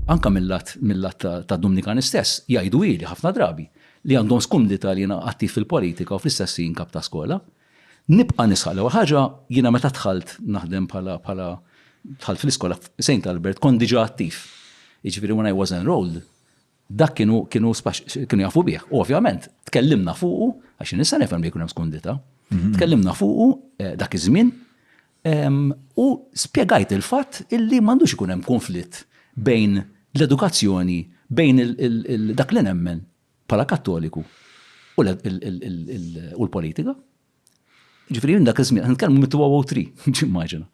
Anke mill-lat mill-lat ta' Dumnikan istess, jgħidu ili ħafna drabi li għandhom skumdità li jiena attiv fil-politika u fl-istess ħin kap ta' skola. Nibqa' nisħaq l-ewwel ħaġa, jiena meta dħalt naħdem bħala bħala dħalt fl-iskola f'Saint Albert kont diġà attiv. Jiġifieri when I was enrolled Dak kienu kienu kienu jafu bih. U ovvjament tkellimna fuqu, għax nista' nifhem li jkun hemm skundita. Mhm. Tkellimna fuqu eh, dak iż-żmien u spjegajt il-fatt illi m'għandux ikun hemm konflitt bejn l-edukazzjoni bejn dak li nemmen bħala kattoliku u l-politika. Ġifiri, dak iż-żmien, għan nitkellmu mit 2003 ġimmaġina.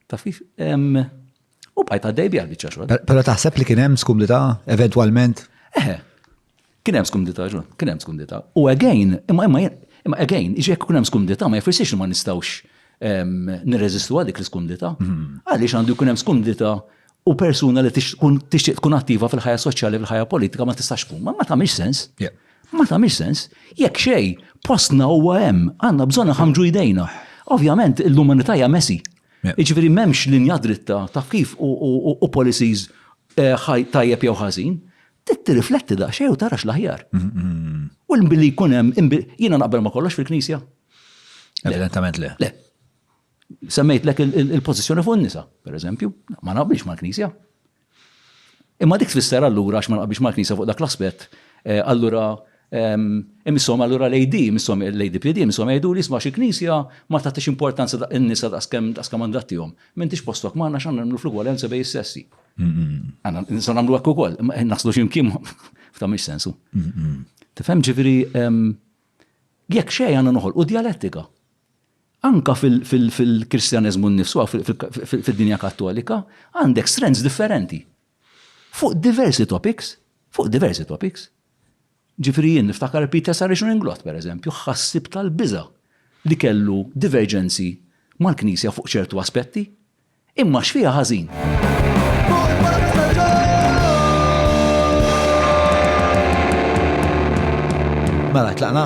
Taf kif? U bqajt għaddej bija biċċa xogħol. Però taħseb li kien hemm skumdita eventwalment? Eħe. Kien hemm skumdita ġun, kien hemm skumdita. U again, imma imma imma again, iġek kun hemm skumdita ma jfissirx li ma nistgħux nirreżistu għal dik l-skumdita. Mhm. Għaliex għandu jkun hemm skumdita u persuna li tixtieq tkun attiva fil-ħajja soċjali fil-ħajja politika ma tistax tkun. Ma tagħmilx sens. Ma tagħmilx sens. Jekk xej, postna huwa hemm, għandna bżonn ħamġu jdejna. Ovvjament l-umanità hija mesi. Jiġifieri m'hemmx linja dritta ta' kif u policies eh, tajjeb jew ħażin. Tirrifletti da xej u tarax l-aħjar. Mm-hmm. U l-billi jkun hemm jiena naqbel ma kollox fil-Knisja. Evidentament le. Le. Semmejtlek il-pożizzjoni fuq in-nisa, pereżempju, ma naqbilx mal-Knisja. Imma dik tfisser allura għax ma naqbilx mal-Knisja fuq dak l-aspett, eh, allura ehm, imissom allura lejdi, imissom lejdi PD, imissom jgħidu li jisma' xi Knisja ma tagħtix importanza daq in-nisa daqskemm daqskemm għandha tihom. M'intix postok m'għandna x'għandna nagħmlu fl-ugwaljanza bejn is-sessi. Għandna nistgħu nagħmlu hekk ukoll, eh, naslu x'imkien f'ta' mhix sensu. Tifhem ġifieri ehm, jekk xejn għandna noħolqu djalettika. Anke fil-Kristjaneżmu nnifsu hawn fid-dinja Kattolika għandek strands differenti fuq diversi topics, fuq diversi topics. Ġifieri jien niftakar Peter Saracen Inglott, pereżempju, ħassieb tal-biża' li kellu diverġenzi mal-Knisja fuq ċertu aspetti. Imma x'fiha ħażin? Mela, tlaqna?